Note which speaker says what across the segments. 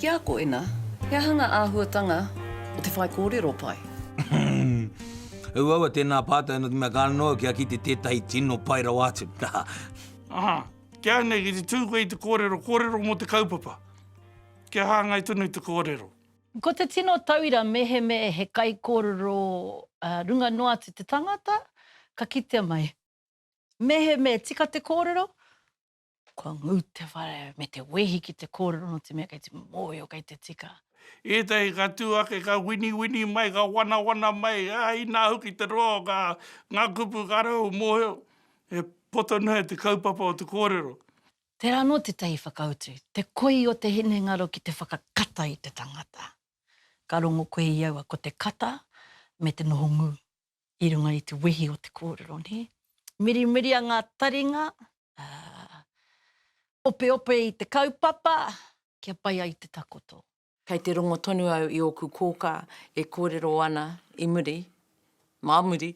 Speaker 1: Ki a koina, he aha ngā āhuatanga o te whaikōrero pai? Uaua,
Speaker 2: tēnā pātai noa ki mea, ka noa kia kite tētahi tino pai rawa atu.
Speaker 3: Kia nei, ki te tū koe i te kōrero, kōrero mō te kaupapa. Kia hāngai tonu te kōrero. Ko te tino
Speaker 4: tauira mehemea he kaikōrero runga noa atu te tangata, ka kitea mai. Mehemea tika te kōrero, kua ngū te whare me te wehi ki te kōrero nō te mea kei te mōhio, kei te tika. Ētahi ka
Speaker 3: tū ake, ka winiwini mai, ka wanawana mai, ā, inā hoki te roa o ngā kupu ka rau mōhio. E poto noa e te kaupapa o te kōrero. Tērā anō
Speaker 4: tētahi whakautu, te koi o te hinengaro ki te whakakata i te tangata. Ka rongo koe i aua ko te kata me te noho ngū i runga i te wehi o te kōrero, nē? Mirimiria ngā taringa, ā, opeope i te kaupapa kia pai ai te takoto. Kei te rongo
Speaker 1: tonu au i ōku kōkā e kōrero ana i muri, mā muri,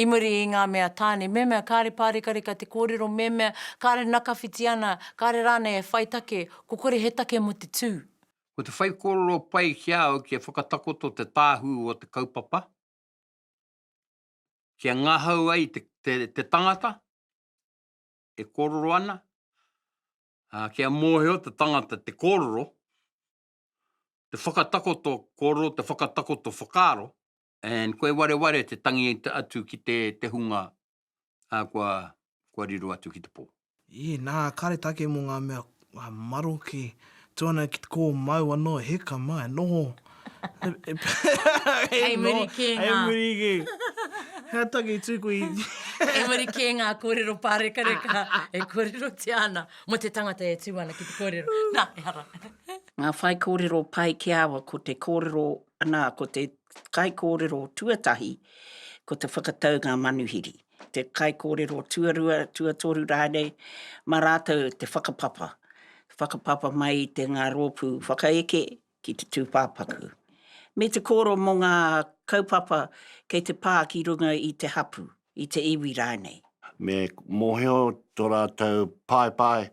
Speaker 1: i muri i ngā mea tāne, me mea kāre pārekareka te kōrero, me mea kāre nakawhiti ana, kāre rānei e whai take, ko kore he take mō te tū. Ko te whaikōrero
Speaker 2: pai ki a au kia whakatakoto te tāhū o te kaupapa, kia ngahau ai te tangata e kōrero ana, Ā, kia mōhio te tangata te kōrero, te whakatakoto kōrero, te whakatakoto whakaaro, and koe wareware te tangi atu ki te, te hunga kua, kua riro atu ki te pō. Ii, Nā, kāre
Speaker 5: tāke mō ngā mea maroke, tuana ki te kōmau anō, heka mā, e noho.
Speaker 1: Hei muri kē ngā... Hei muri kē.
Speaker 5: Hea tangi tūku i... Hei muri kē
Speaker 1: ngā kōrero pārekareka e kōrerotia ana mō te tangata e tū ana ki te kōrero. Nā, ehara. Ngā whaikōrero
Speaker 6: pai ki a au ko te kōrero, nā, ko te kaikōrero tuatahi, ko te whakatau ngā manuhiri. Te kaikōrero tuarua, tuatoru rānei, mā rātou te whakapapa. Whakapapa mai i te ngā rōpū whakaeke, ki te tūpāpaku, me te kōrero mō ngā kaupapa kei te pā ki runga i te hapū, i te iwi rānei. Me
Speaker 7: mōhio tō rātou paepae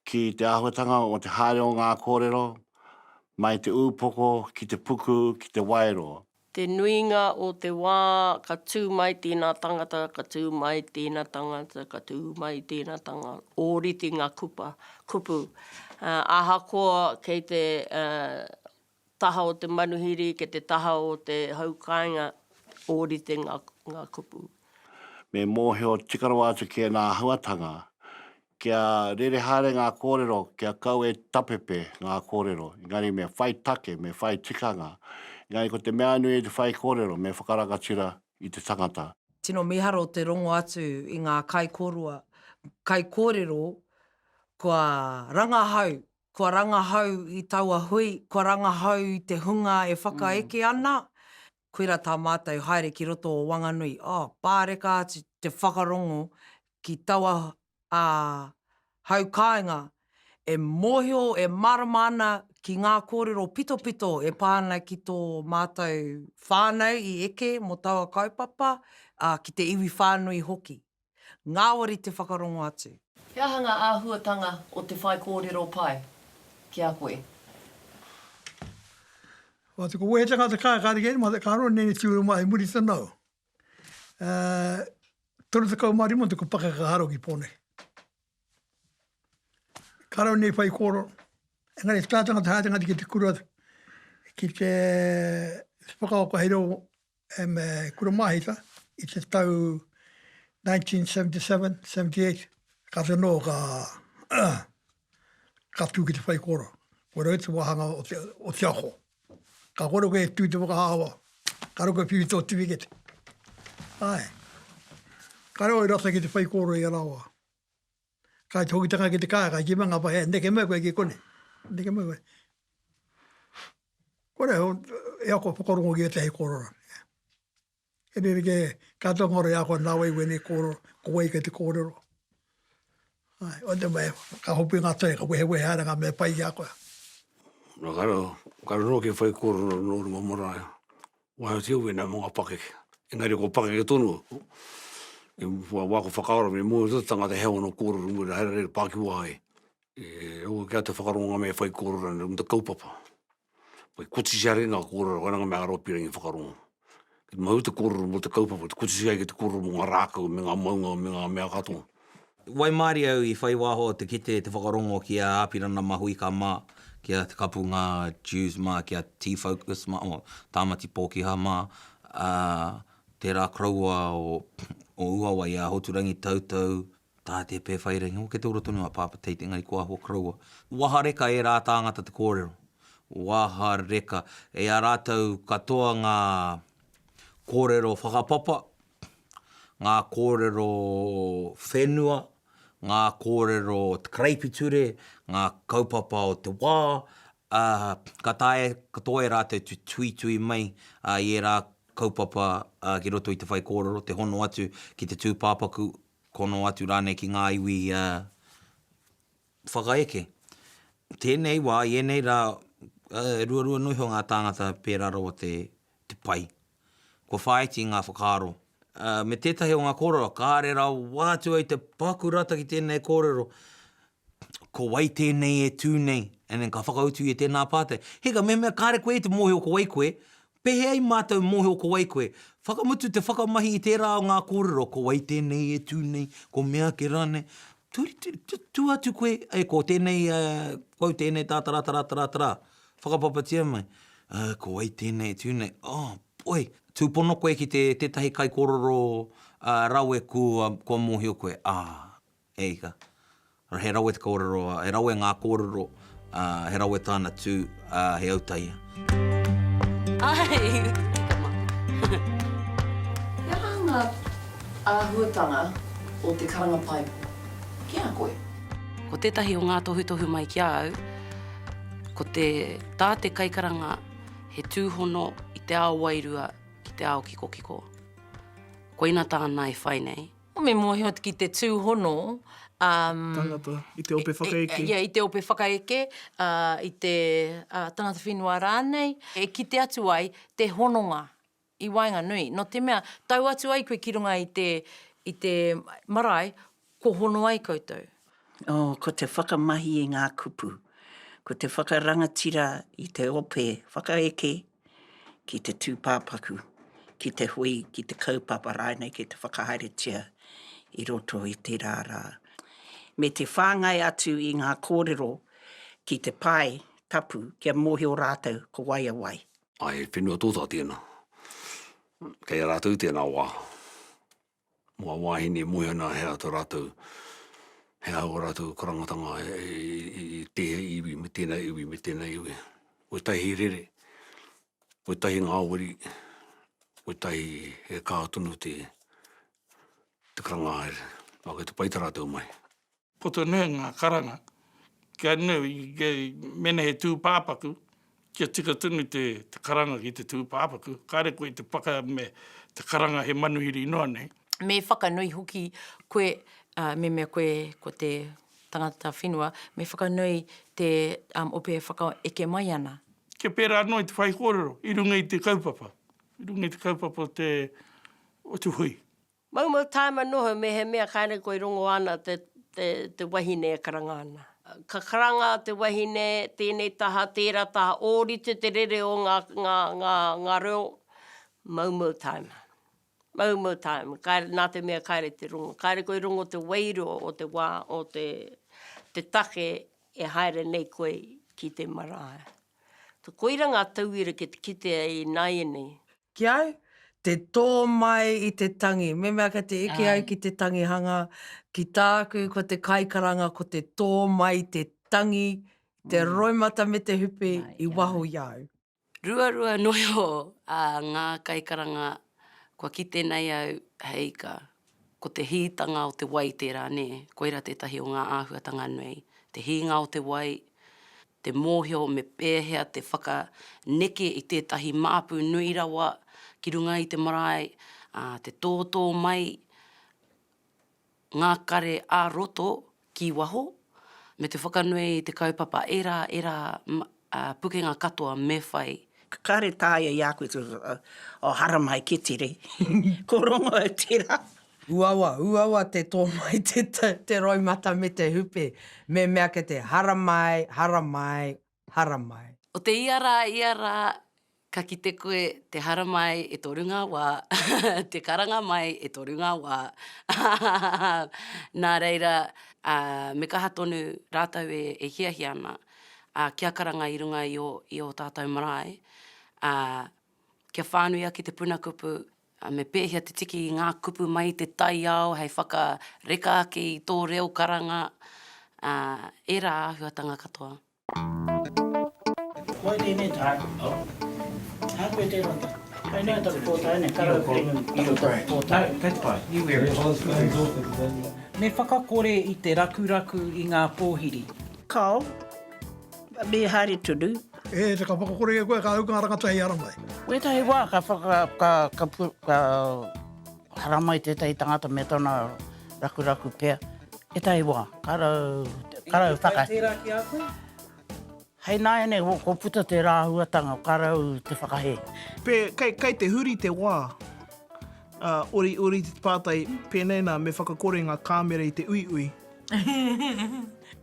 Speaker 7: ki te āhuatanga o te haere o ngā kōrero, mai te ūpoko ki te puku ki te waero. Te nuinga
Speaker 8: o te wā ka tū mai tēnā tangata, ka tū mai tēnā tangata, ka tū mai tēnā tanga, ōrite ngā kupa, kupu. Ahakoa kei te taha o te manuhiri, kei te taha o te hau kāinga, ōrite ngā kupu. Me
Speaker 7: mōhio tika rawa atu ki ēnā āhuatanga, Kia rere haere ngā kōrero, kia kau e tapepe ngā kōrero. Engari me whai take, me whai tikanga. Engari ko te mea nui i te whaikōrero, me whakarangatira i te tangata. Tino miharo te
Speaker 9: rongo atu i ngā kaikorua, kaikōrero kua rangahau, kua rangahau i taua hui, kua rangahau i te hunga e whakaeke ana, Koirā tā mātou haere ki roto o Wanganui, oh, pāreka atu te whakarongo ki taua hau kāinga e mōhio, e mārama ana ki ngā kōrero pitopito e pā ana ki tō mātou whānau i eke mō taua kaupapa, ā, ki te iwi whānui hoki. Ngāwari te whakarongo atu. He aha ngā
Speaker 1: āhuatanga o te whaikōrero pai ki a koe?
Speaker 10: Wā te koe he tangata ka kare kē mā te karo nei nei tūru mā he muri tana au. Toru tekau mā rima tuku pakaka haro ki pō nei. Karo nei whai kōrero, engari he tā tangata haere ngati ki te kura ki te whakaoka hei reo e me Kura Mahita i te tau 1977, 78, kāti anō ka ka tū ki te whaikōrero. Ko rau te wāhanga o te o te ako. Ka kore koe e tū te whakahawa, ka rau koe whiwhi tō tiwikete. Āe. Ka rau au rata ki te whaikōrero i a rawa. Ka hoki te kaka ki te kar, ka kima nga pae, neke mai koe ki konei, neke mai koe. Kore au, e ako whakarongo ki etahi korero. E rere ke, ka tonga ora e ako na wai wenei korero, ko wai kei te korero. Ae, o te mai, ka hopu nga toi, ka wehe wehe ara nga mea pai ki a koe. Ka
Speaker 11: rongo ki whai korero no runga marae, Waiho te uwhi nā mga pakeke. Engari ko pakeke tonu, i mua wā ko whakaaro me mōhio tō te tangata he ono kōrero mō reira haere rei pā ki waho ai. E ua kē a te whakaronga me whai kōrero nei mō te kaupapa. Whai kotisi haere ngā kōrero koina ngā mea aropi rangi whakarongo. Ki te mahu te kōrero mō te kaupapa, te kotisi ai ki te kōrero mō ngā rākau me ngā maunga me ngā mea katoa. Waimarie
Speaker 12: au i whai waho te kite te whakarongo ki a Apirana Mahuika ma, ki a Te Kapunga Dewes ma, ki a T Focus ma, oh, Tamati Pokiha ma, a tera koroua o o Uawai a Hoturangi Toutou, Tate Pewhairangi, oh, kei te ora tonu a Papa Tate engari ko ahua koroua. Wahareka era tangata te korero. Wahareka. E a ratou katoa nga korero whakapapa. ngā kōrero whenua, ngā kōrero o te karaipiture, ngā kaupapa o te wā, ā, ka taea katoa e rātou te tuitui mai i ērā kaupapa ki roto i te whaikōrero, te hono atu ki te tūpāpaku, hono atu rānei ki ngā iwi whakaeke. Tēnei wā, i ēnei rā, ruarua noa iho ngā tāngata pērā rawa te pai. Kua whāiti ngā whakaaro. Me tētahi o ngā kōrero, kāre rawa atu ai te paku rata ki tēnei kōrero, ko wai tēnei e tū nei, and then ka whakautu ia i tēnā pātai, Hika, mehemea kāre koe i te mōhio ko wai koe, pēhea i mātou mōhio ko wai koe? Whakamutu te whakamahi i tērā o ngā kōrero, ko wai tēnei e tū nei, ko meake rānei, tū atu koe, ko tēnei, ko au tēnei tātaratarātarātarā. Whakapapatia mai, Oh, ko wai tēnei e tū nei? Oh, poi! Tūpono koe ki te tētahi kaikōrero rawe kua, kua mōhio koe, ah, e hika, he rawe te kōrero, he rawe ngā kōrero, he rawe tāna tū, he autaia. Ai,
Speaker 1: tika mā. He aha ngā āhuatanga o te karanga paepo ki a koe? Ko tētahi
Speaker 13: o ngā tohutohu mai ki a au, Ko te tā te kaikaranga he tūhono i te ao wairua ki te ao kikokiko. Koina tāna e whai nei. Me mōhio ki
Speaker 1: te tūhono, umm.
Speaker 5: Tangata, i te ope whakaeke. Ia, i te ope whakaeke,
Speaker 1: i te tangata whenua rānei, e kite atu ai te hononga. I waenganui, no te mea, tau atu ai koe ki runga i te, i te marae, kua hono ai koutou. Oh, ko te
Speaker 6: whakamahi i nga kupu, ko te whakarangatira i te ope whakaeke ki te tupapaku, ki te hui, ki te kaupapa rainei ki te whakahaeretia i roto i tera ra. Me te whangai atu i nga korero ki te pae tapu kia mohio ratou ko wai a wai. Ai he whenua
Speaker 11: tōtā tēnā. Kei a rātou tēnā wā. Mō a wāhine e moe ana he aha tā rātou, he aha ō rātou karangatanga i tēhea iwi me tēnā iwi me tēnā iwi. Kotahi he rere, kotahi ngāwari, kotahi he kaha tonu te karangahaere. Nō kei te pai tā rātou mai. Poto nui
Speaker 3: ngā karanga, kia nui, mēnā he tūpāpaku, kia tika tonu te karanga ki te tūpāpaku, kāre koe i te paka me te karanga he manuhiri noa nei. Me whakanui
Speaker 1: hoki koe, me mea koe ko te tangata whenua, me whakanui te ope e whakaeke mai ana. Kia pērā anō i te
Speaker 3: whaikōrero i runga i te kaupapa, i runga i te kaupapa o te hui. Maumau taima
Speaker 8: noho mehemea kainei koe rongo ana te te te wahine e karanga ana. Ka karanga te wahine tenei taha tera taha orite te rere o nga nga nga nga reo maumau taima. Maumau taima kaire na te mea kaire te rongo kaire koe rongo te wairua o te wa o te te take e haere nei koe ki te marae. Koira nga tauira ki te kite ai i naianei. Ki au,
Speaker 9: te tō mai i te tangi. Memea kei te eke ai ki te tangihanga, ki tāku ko te kaikaranga ko te tō mai te tangi, te roimata me te hupi i waho i a au. Ruarua
Speaker 13: noa iho a ngā kaikaranga kua kite nei au he ika. Ko te hītanga o te wai tērā nē, koira tētahi o ngā āhuatanga nei, te hīnga o te wai, te mōhio me pēhea te whakaneke i tētahi māpu nui rawa ki runga i te marae, ā, te tōtō mai ngā kare ā-roto ki waho, me te whakanui i te kaupapa ērā, ērā pukenga katoa me whai. Kāre tāia
Speaker 6: i a koe, oh, haramai, kē tere, ko Rongo tērā. Uawa, uawa
Speaker 9: te tō mai te te roimata me te hupe, me mea ke te haramai, haramai, haramai.
Speaker 13: O te ia rā, ia rā, ka kite koe te haramai e toru ngā wā, te karanga mai e toru ngā wā, nā reira, ā, me kaha tonu rātou e, e hiahia ana, ā, kia karanga i runga i ō, i ō tātou marae, ā, kia whānui ake te puna kupu, Ā, me pēhea te tiki i ngā kupu mai i te taiao hei whakareka ake i tō reo karanga, ā, ērā āhuatanga katoa.
Speaker 6: Wai tēnei tāku? Oh. Ā, koe tērā tāku. Kai noa taku pōtae nei, ka rau kino i roto i tō tāku.
Speaker 14: No, that's fine. You wear it. Me whakakore i te rakuraku i ngā pōhiri. Kao,
Speaker 6: me haere tonu. E te ka whakakore
Speaker 10: e koe ka hau ka rangata hei haramai. Wetahi wa ka
Speaker 6: whaka ka ka pu ka haramai tetahi tangata me tona rakuraku pea etahi wa ka rau ka rau whaka.
Speaker 9: Inaki pai
Speaker 6: tera ki a koe? Hei naene wo ko puta te rahuatanga ka rau te whakahe. Pe, kei, kei
Speaker 5: te huri te wa. A, ori, ori te patai, penei na me whakakore nga kamera i te uiui.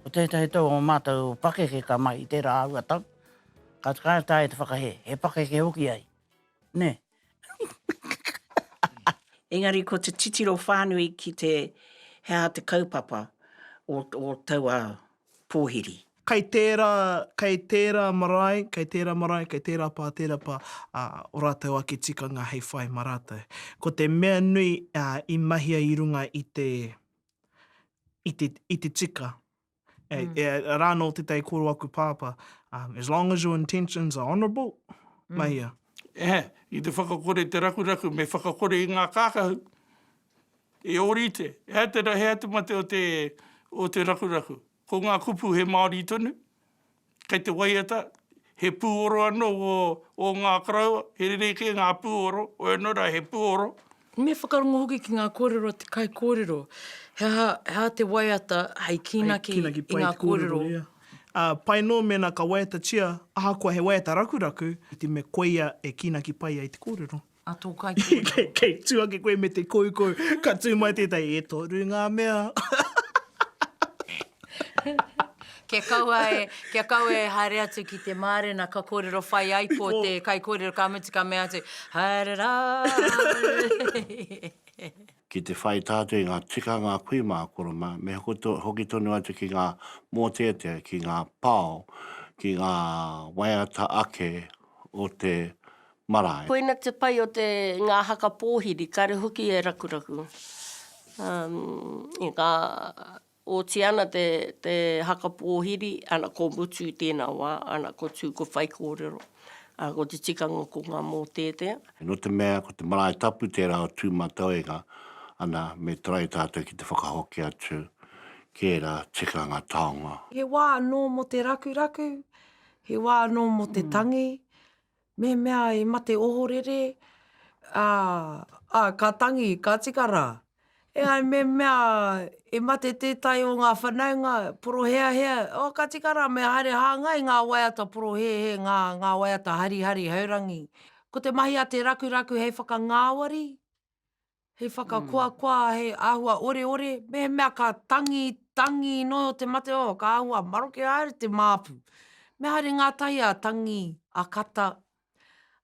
Speaker 6: Ko tētahi tau o mātou pakeke ka mahi i tērā āhua tau, ka whakaea tāia te whakahē, he pakeke hoki ai, nē. Engari ko te titiro whānui ki te he aha te kaupapa o, o taua pōhiri. Kei tērā,
Speaker 5: kei tērā marae, kei tērā marae, kei tērā pā, tērā pā, ā, ō rātou ake tikanga hei whai mā rātou. Ko te mea nui, ā, i mahia i runga i te i te, i te tika. E, mm. e, rā nō te tei koro aku pāpā, um, as long as your intentions are honourable, mm. mahia. E,
Speaker 3: i te whakakore te rakuraku, me whakakore i ngā kākahu, e orite, e te rahe atu mate o te, o te rakuraku. Ko ngā kupu he Māori tonu, kei te waiata, he pūoro anō o ngā karaua, he rerekē ngā pūoro, wai anō rā he pūoro. Me whakarongo
Speaker 1: hoki ki ngā kōrero a te kaikōrero, he aha, he aha te waiata hei kīnaki i ngā kōrero. Pai
Speaker 5: anō mēnā ka waiatatia ahakoa he waiata rakuraku, iti me koia e kīnaki pai ai te kōrero. A tō kaikōrero.
Speaker 1: Kei tū ake koe me
Speaker 5: te koukou, ka tū mai tētahi, e toru ngā mea.
Speaker 1: Kia kaua e, kia kaua e haere atu ki te mārena ka kōrero whai ai ko te kaikōrero ka mutu ka mea atu, haere rā!
Speaker 7: Ki te whai tātou i ngā tikanga kui mā Koroma, me hoki tonu atu ki ngā mōteatea, ki ngā pao, ki ngā waiata ake o te marae. Koina te pai o
Speaker 8: te nga haka pōhiri, kare hoki e rakuraku. I nga oti ana te te haka pōhiri, ana ko Mutu i tēnā wā, ana ko Tū ko Whaikōrero, ana ko te tikanga ko nga mōteatea. No te mea ko
Speaker 7: te marae tapu tērā o Tūmatauenga, ana me tarai tātou ki te whakahoki atu ki ērā tikanga taonga. He wā anō
Speaker 9: mo te rakuraku, he wā anō mo te tangi, Mehemea i mate ohorere, ā, ā, ka tangi, ka tika rā. E ai mehemea i mate tētahi o ngā whanaunga, poroheahea, ō, ka tika rā, me haere hāngai ngā waiata porohehe, ngā, ngā waiata harihari, haurangi. Ko te mahi a te rakuraku hei whakangāwari, He whakakoakoa, he āhua oreore, mehemea ka tangi, tangi noa te mate, oh, ka āhua maroke haere te māpu. Me haere ngātahi a Tangi, a Kata,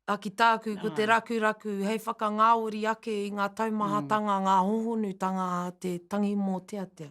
Speaker 9: a ki tāku, ko te rakuraku, hei whakangāori ake i ngā taumahatanga, ngā hohonutanga a te tangi mōteatea.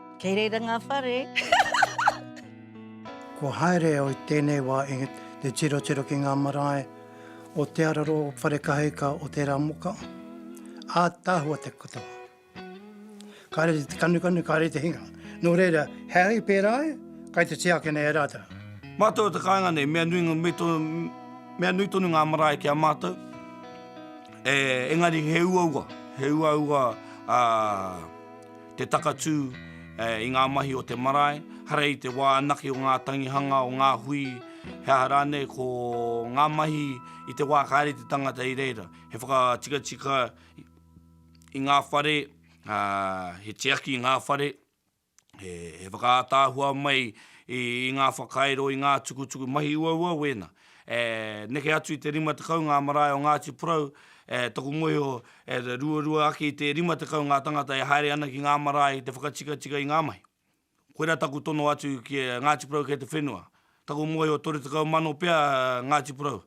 Speaker 4: Kei reira ngā whare.
Speaker 15: Kua haere au i tēnei wā i te tirotiro ki ngā marae o Te Araro, o Wharekaheika, o Teramoka, ātaahua te katoa. Kāre te kanukanu, kāre te hinga. Nō reira, he ahi pērā ai, kai te tiakina e rātou. Mātou o te kāinga
Speaker 3: nei, mea nui, me to, mea nui tonu ngā marae ki a mātou, e, engari he uaua, he uaua, ā, te takatū i ngā mahi o te marae, hara i te wā anake o ngā tangihanga, o ngā hui, he aha rānei, ko ngā mahi i te wā kāre te tangata i reira. He whakatikatika i ngā whare, he tiaki i ngā whare, he whakaātaahua mai i ngā whakairo, i ngā tukutuku, mahi uaua wēnā. E neke atu i te rima tekau ngā marae o Ngāti Porou, e toku mōhio e ruarua ake i te rima tekau ngā tangata e haere ana ki ngā marae i te whakatikatika i ngā mahi. Koira taku tono atu ki a Ngāti Porou kei te whenua. Taku mōhio toru tekau mano pea Ngāti Porou.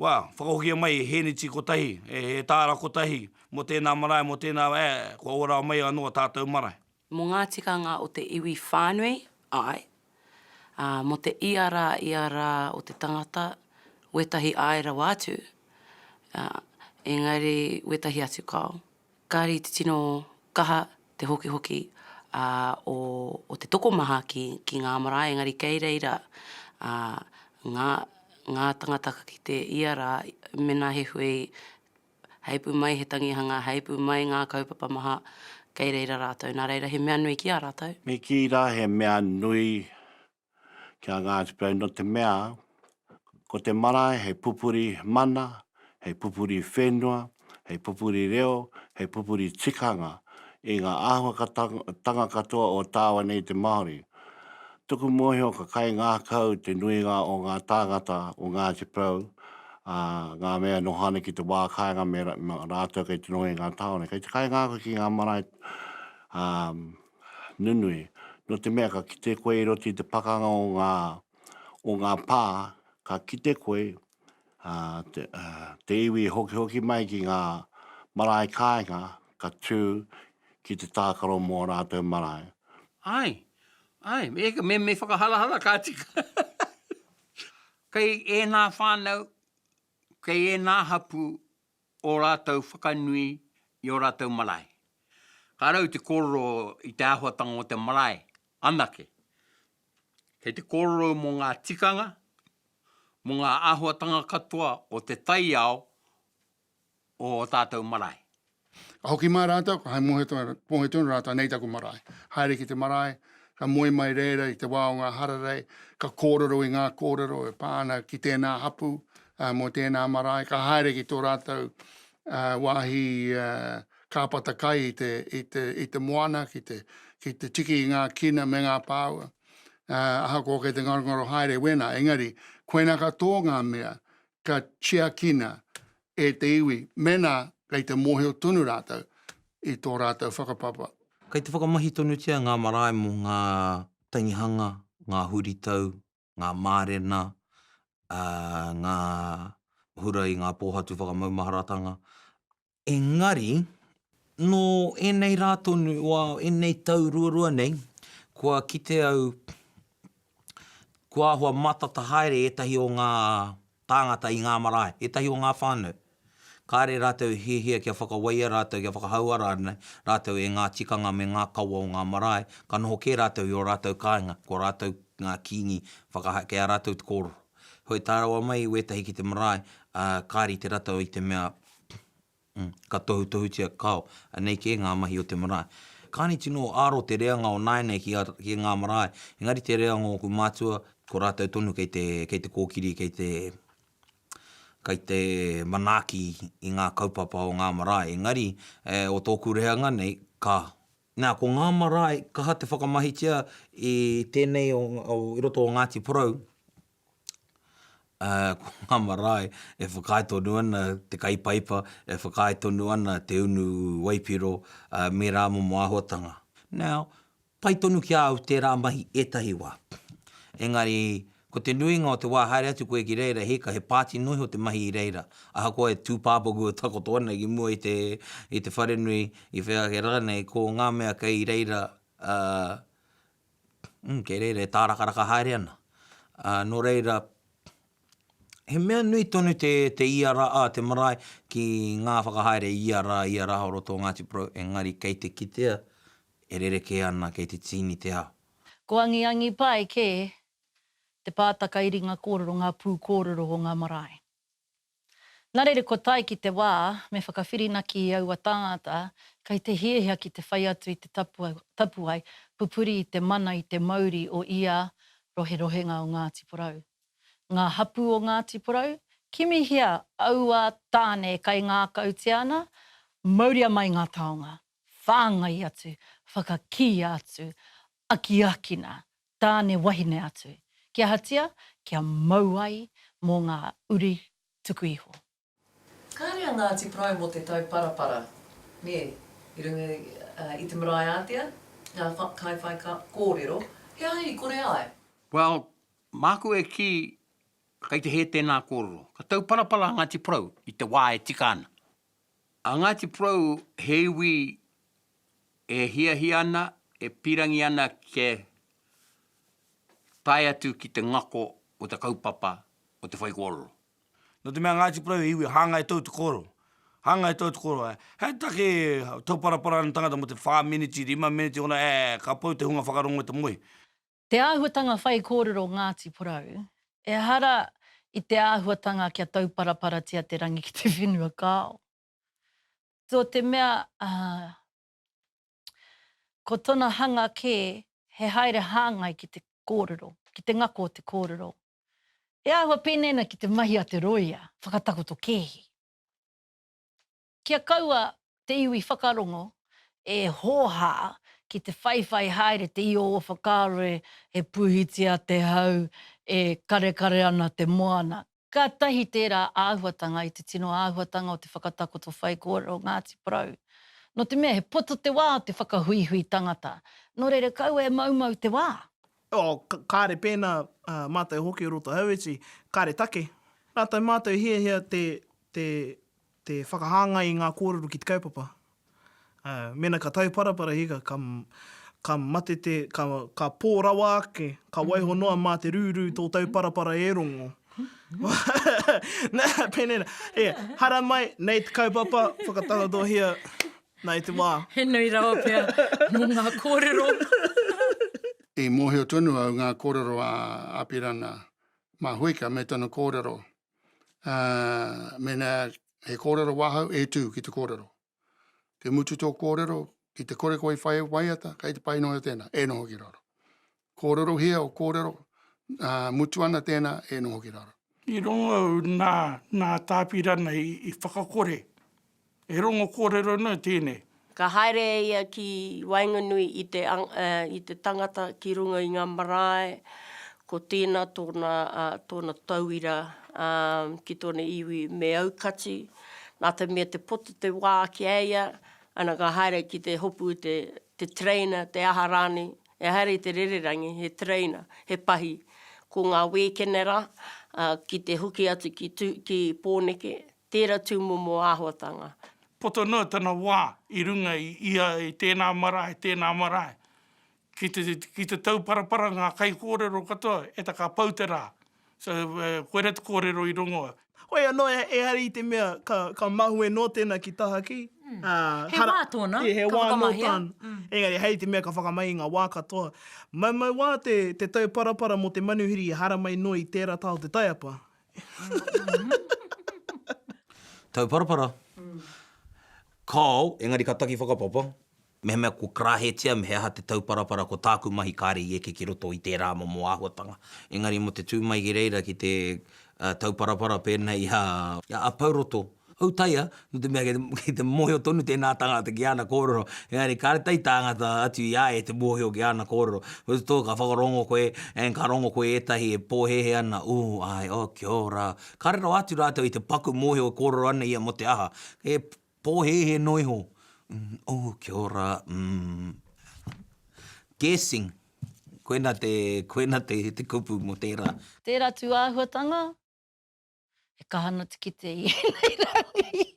Speaker 3: Wā, whakahokia mai he hēneti kotahi, he tāra kotahi mō tēnā marae, mō tēnā, ā, kua ō rāwa mai anō tātou marae. Mō ngā tikanga
Speaker 13: o te iwi whānui, āe, ā, mō te ia rā, ia rā o te tangata, wētahi āe rawa atu, ā, engari wētahi atu kao. Kāre i te tino kaha te hokihoki, ā, o, o te tokomaha ki, ki ngā marae, engari kei reira, ā, ngā, ngā tangata ka kite ia rā, mēnā he hui Heipu mai he tangihanga, heipu mai ngā kaupapa maha, kei reira rātou. Nā reira, he mea nui ki a rātou. Me kī rā he
Speaker 7: mea nui ki a Ngāti Porou nō te mea, ko te marae he pupuri mana, he pupuri whenua, he pupuri reo, he pupuri tikanga i ngā āhuakatanga katoa o tāua nei te Māori. Tuku mōhio ka kaingākau te nuinga o ngā tāngata o Ngāti Porou, ā, ngā mea e noho ana ki te wā kāinga me rātou kei te noho i ngā tāone. Kei te kaingākau ki ngā marae nunui, nō te mea ka kite koe i roto i te pakanga o ngā pā, ka kite koe ā, te, ā, te iwi e hokihoki mai ki ngā marae kāinga ka tū ki te tākaro mō ō rātou marae. Āe, āe, me,
Speaker 2: me, me whakaharahara ka tika. Kei ēnā whānau, kei ēnā hapū ō rātou whakanui i ō rātou marae. Ka rau te kōrero i te āhuatanga o te marae anake. Kei te kōrero mō ngā tikanga, mō ngā āhuatanga katoa o te taiao o ō tātou marae. Ka hoki
Speaker 10: mai rātou, ka hai mōhio tonu rātou, nei taku marae. Haere ki te marae, ka moe mai reira i te wā o ngā hararei, ka kōrero i ngā kōrero e pā ana ki tēnā hapū mō tēnā marae, ka haere ki tō rātou wāhi kāpata kai i te, i te, i te moana ki te, ki te tiki i ngā kina me ngā pāua. Uh, ahakoa kei te ngarongaro haere wena, engari, koina ka tō ngā mea, ka tiakina e te iwi, mena kei te mōhio tonu rātou i tō rātou whakapapa. Kei te whakamahi
Speaker 12: tonutia ngā marae mō ngā tangihanga, ngā huritau, ngā mārena, ā, ngā hura i ngā pōhatu whakamaumaharatanga. Engari, nō ēnei rā tonu o ēnei tau ruarua nei, kua kite au, kua āhua mātata haere ētahi o ngā. Tāngata i ngā marae, ētahi o ngā whānau. Kāre rātou i hiahia kia whakawaia rātou, kia whakahauara ana rātou e ngā tikanga me ngā kawa o ngā marae, ka noho kē rātou i ō rātou kāinga, ko rātou ngā kīngi whakahaere, kei a rātou te kōrero. Heoi, tae rawa mai i wētahi ki te marae, ā, ka rite rātou i te mea, Ka tohutohutia kao, anei kē ngā mahi o te marae. Kāni tino āro te reanga o nāianei ki a, ki ngā marae, engari te reanga o ōku mātua, ko rātou tonu kei te, kei te kōkiri, kei te, kei te manaaki i ngā kaupapa o ngā marae. Engari, e, o tōku reanga nei, ka. Nā, ko ngā marae, kaha te whakamahitia i tēnei o, o, i roto o Ngāti Porou, ā, ko ngā marae e whakaae tonu ana te kaipaipa, e whakaae tonu ana te unu waipiro, ā, me rā momo āhuatanga. Now, pai tonu ki a au tērā mahi ētahi wā. Engari, ko te nuinga o te wā haere atu koe ki reira, he ika, he pāti noa iho te mahi i reira. Ahakoa e tūpāpaku e takoto ana ki mua i te, i te wharenui, i whea ake rānei, ko ngā mea kei reira, ā, Mm, kei reira e tārakaraka haere ana. Ā, nō reira, he mea nui tonu te, te ia rā, ā, te marae ki ngā whakahaere ia rā, ia rā o roto o Ngāti Porou, engari kei te kitea e rerekē ana, kei te tīni te ao. Ko angiangi
Speaker 4: pai kē te pātaka i ringa kōrero, ngā pū kōrero o ngā marae. Nā reira kua tae ki te wā me whakawhirinaki i aua tāngata kei te hiahia ki te whai atu i te tapuwae pupuri i te mana i te mauri o ia roherohenga o Ngāti Porou. Ngā hapū o Ngāti Porou, kimihia aua tāne e kaingākautia ana, mauria mai ngā taonga, whāngai atu, whakakīia atu, akiakina, Tāne wahine atu. Kia hatia, kia mau ai mō ngā uri tuku iho. Kāre a
Speaker 1: Ngāti Porou mō te tauparapara, nē, i runga i te marae ātea, ngā kaiwhai kōrero, he aha i kore ai? Well,
Speaker 2: māku e kī, kei te hē tēnā kōrero. Ka tauparapara a Ngāti Porou i te wā e tika ana. A Ngāti Porou he iwi e hiahia ana, e pīrangi ana kia tae atu ki te ngako o te kaupapa o te whaikōrero. Nō te mea
Speaker 3: Ngāti Porou he iwi hāngai tau te kōrero, hāngai tau te kōrero. He take tauparapara ana te tangata mō te whā meneti, rima meneti, ōna, ē, ka pau te hunga whakarongo i te moe. Te āhuatanga
Speaker 4: whaikōrero Ngāti Porou, ehara i te āhuatanga kia tauparaparatia te rangi ki te whenua kāo. Nō te mea ko tōna hanga kē he haere hāngai ki te kōrero, ki te ngako o te kōrero. He āhua pēnei ana ki te mahi a te rōia whakatakoto kēhi. Kia kaua te iwi whakarongo e hōhā ki te whaiwhai haere te io o whakaaro e he pūhitia te hau, e karekare ana te moana. Kātahi tērā āhuatanga i te tino āhuatanga o te whakatakoto whaikōrero Ngāti Porou. Nō te mea he poto te wā o te whakahuihui tangata, nō reira kaua e moumou te wā. Oh, kāre
Speaker 5: pēnā mātou hoki o roto Hauiti, kāre take. Rātou mātou hiahia te Te whakahāngai i ngā kōrero ki te kaupapa. Mēnā ka tauparapara hika, ka, ka mate te, ka, ka pō rawa ake, ka waiho noa mā te rūrū tō tauparapara e rongo. Pēnei nā, e, haramai, nei te kaupapa, whakatakotohia, nā i te wā. He nui rawa pea
Speaker 1: mō ngā kōrero.
Speaker 16: I mōhio tonu au ngā kōrero a Apirana Mahuika me tana kōrero. ā, mēnā he kōrero wāhau, e tū ki te kōrero. Te mutu tō kōrero, ki te kore koe i whai waiata, kei te pai noa tēnā, e noho ki raro. Kōrerohia o kōrero, ā, mutu ana tēnā, e noho ki raro. I rongo au
Speaker 3: nā, nā Tāpirana i whakakore He rongo kōrero nui tēnei. Ka haere e
Speaker 8: ia ki waenganui i te i te tangata ki runga i ngā marae, ko tēnā tōna tōna tauira ki tōna iwi me aukati, nā te mea te poto te wā ki a ia, ana ka haere ki te hopu te te tereina, te aha rānei, e haere i te rererangi he tereina, he pahi, ko ngā wēkene rā, ki te hoki atu ki Tū ki Pōneke, Tēra tūmomo āhuatanga. Poto noa tana
Speaker 3: wā i runga i ia i tēnā marae, tēnā marae. Ki te, ki te tauparapara ngā kaikōrero katoa, eta ka pau te rā. So, koera te kōrero i rongo. Hoi anō,
Speaker 5: ehara i te mea ka, ka mahue noa tēnā ki tahaki, ā, He hara, wā
Speaker 1: tōna, he ka wā nō whakamahea. tāna.
Speaker 5: Engari hei te mea ka whakamahi i ngā wā katoa. Maumau wā te, te tauparapara mō te manuhiri i haramai noa i tēra taha o te taiapa.
Speaker 12: Tauparapara. Kao, engari ka taki whakapapa, mehemea kua karahetia me he aha te tauparapara ko tāku mahi kāre i eke ki roto i tērā momo āhuatanga. Engari mō te tū mai ki reira ki te tauparapara pēnei i a Pouroto, Autaia, nō te mea kei te mōhio tonu tēnā tangata ki āna kōrero, engari kāre tae tāngata atu i a ia te mōhio ki āna kōrero. Whereas tō ka whakarongo koe, and ka rongo koe i ētahi e pōhēhē ana, ooh, āe, oh, kia ora. Kāre rawa atu rātou i te paku mōhio e kōrero ana ia mō te aha, he pōhēhē noa iho, mm, ooh, kia ora, mm. Guessing, koina te, koina te kupu mō tērā. Tērā tūāhuatanga.
Speaker 4: He kaha ana te kite i enei rangi.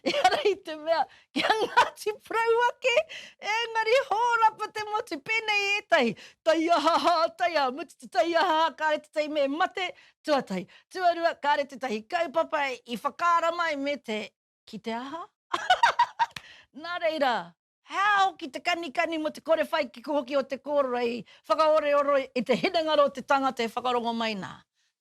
Speaker 4: Ehara i te mea, ki a Ngati Porou ake, engari horapa te motu, penei etahi, taiaha ha taiaha, mutu te taiaha ha kare tetahi me mate, tuatahi. Tuarua, kare tetahi kaupapa i whakaara mai me te, ki te aha? Na reira, He ao ki te kanikani mō te kore whai kiko hoki o te kōrero i whakaoreoro i te hinengaro o te tangata e whakarongo mai nā.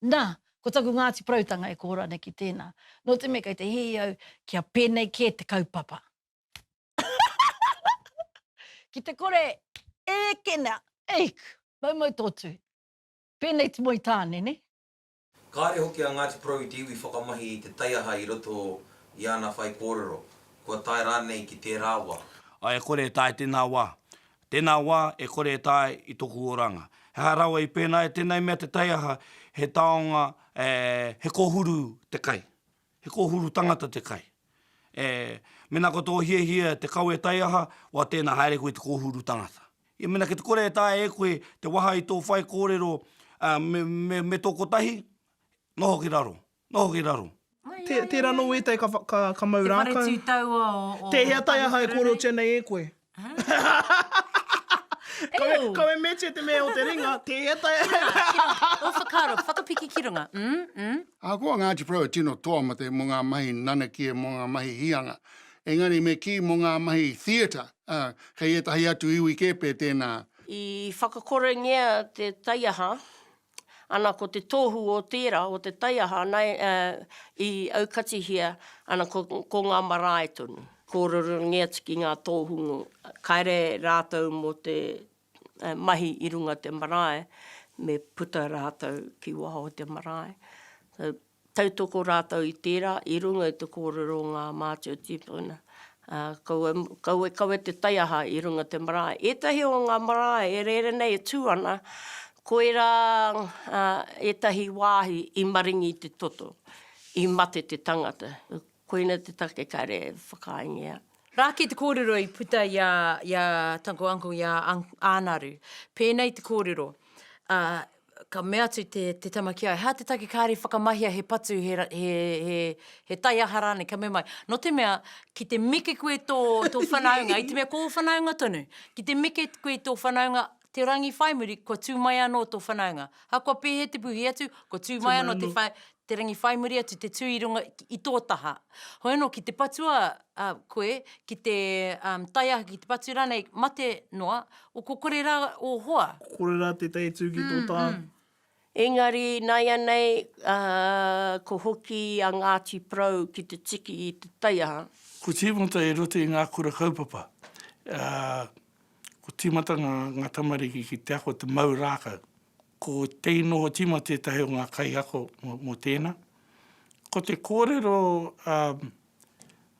Speaker 4: Nā, ko taku Ngāti Porautanga e koho rānei ki tēnā. Nō te mea kei te hihi au kia pēnei kē te kaupapa. Ki te kore ēkena, eek, maumau tō tū. Pēnei te moe tāne, nē? Kāre
Speaker 12: hoki a Ngāti Porou i te iwi whakamahi i te taiaha i roto i ana whaikōrero, kua tae rānei ki tērā wā. Ā, e kore e tae
Speaker 3: tēnā wā. Tēnā wā, e kore e tae i tōku oranga. He aha rawa i pēnā e tēnei mea te taiaha, he taonga, he kōhuru te kai. He kōhuru tangata te kai. E, mena ko tō hiahia te kawe taiaha, wa tēnā haere koe i te kōhuru tangata. I mena ki te kore e taea e koe te waha i tō whai kōrero, a, me, me, me tō kotahi, noho ki raro, noho ki raro. Tērā nō
Speaker 5: ētahi ka, ka, ka mau rākau. Te whare tū taua o, o
Speaker 1: Tēhea taiaha e
Speaker 5: kōrerotia nei e koe? Kawe, kawe metia te mea o te ringa, te etae. Ua whakaaro,
Speaker 1: whakapiki ki runga. Mm, mm. Ahakoa
Speaker 16: Ngāti Porou e tino toa mate mō ngā mahi nanakia, mō ngā mahi hīanga, engari me kī mō ngā mahi theatre, ā, kei ētahi atu iwi kē pē tēnā. I
Speaker 8: whakakorengia te taiaha Ana ko te tohu o tera, o te taiaha ana i aukatihia ana ko nga marae tonu. Kororongi atu ki nga tohungu, kare ratou mo te mahi i runga te marae, me puta ratou ki waho o te marae. tautoko rātou i tērā i runga i te kōrero o ngā mātua tīpuna. Kaua, kaua e kawe te taiaha i runga te marae. Ētahi o ngā marae e rere nei e tū ana, koirā ētahi wāhi i maringi te toto, i mate te tangata. Koina te take kare e whakaaengia. Rā kei te
Speaker 1: kōrero i puta i a, i a Taku Uncle, i a Ānaru. Pēnei te kōrero, ā, ka mea atu te, te tama ki a ia, hā te take kāre i whakamahia he patu, he, he, he, he taiaha rānei, ka mea mai, nō te mea, ki te meke koe tō, tō whanaunga, i te mea ko ō whanaunga tonu, ki te meke koe i tō whanaunga, te rangi whai muri, kua tū mai anō tō whanaunga. Ahakoa pēhea te puhi atu, kua tū mai anō te whai, te rangi whai muri atu, te tū i runga, i tō taha. Hoi anō, ki te patua koe, ki te tae ake, ki te patu rānei, mate noa, o ko kore rā ō hoa. Ko kore rā tētahi e
Speaker 5: tū ki tō taha. Engari
Speaker 8: naianei ko hoki a Ngati Porou ki te tiki i te taiaha. Ko timata
Speaker 3: e roto i nga kura kaupapa. Ko timata nga tamariki ki te ako te mau rakau. Ko Tei Noho Tima tetahi o nga kaiako mo tena. Ko te korero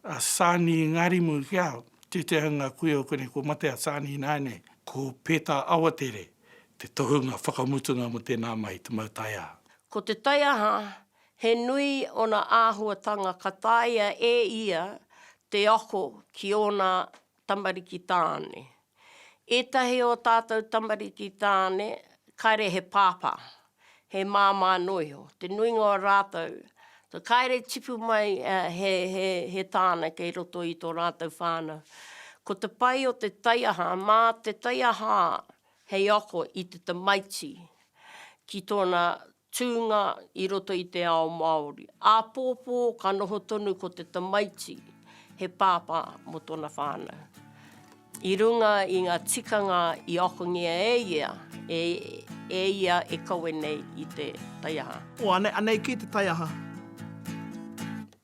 Speaker 3: a Sani Ngarimu ki au, tēteha nga kui o konei kua mate a Sani ināianei, ko Pētā Awatere te tohunga whakamutunga mo tēnā mai te mau taiaha. Ko te taiaha,
Speaker 8: he nui ona āhuatanga ka taea e ia te ako ki ōna tamariki tāne. Ētahi o tātou tamariki tāne, kāre he pāpā, he māmā anō iho, te nuinga o rātou, kāre tipu mai he, he, he tāne kei roto i tō rātou whānau. Ko te pai o te taiaha, mā te taiaha hei ako i te tamaiti ki tōna Tūnga i roto i te ao Māori. Āpōpō ka noho tonu ko te tamaiti he pāpā mō tōna whānau. I runga i ngā tikanga i akongia e ia, e, e ia e kawe nei i te taiaha. O, anei, anei kē
Speaker 5: te taiaha.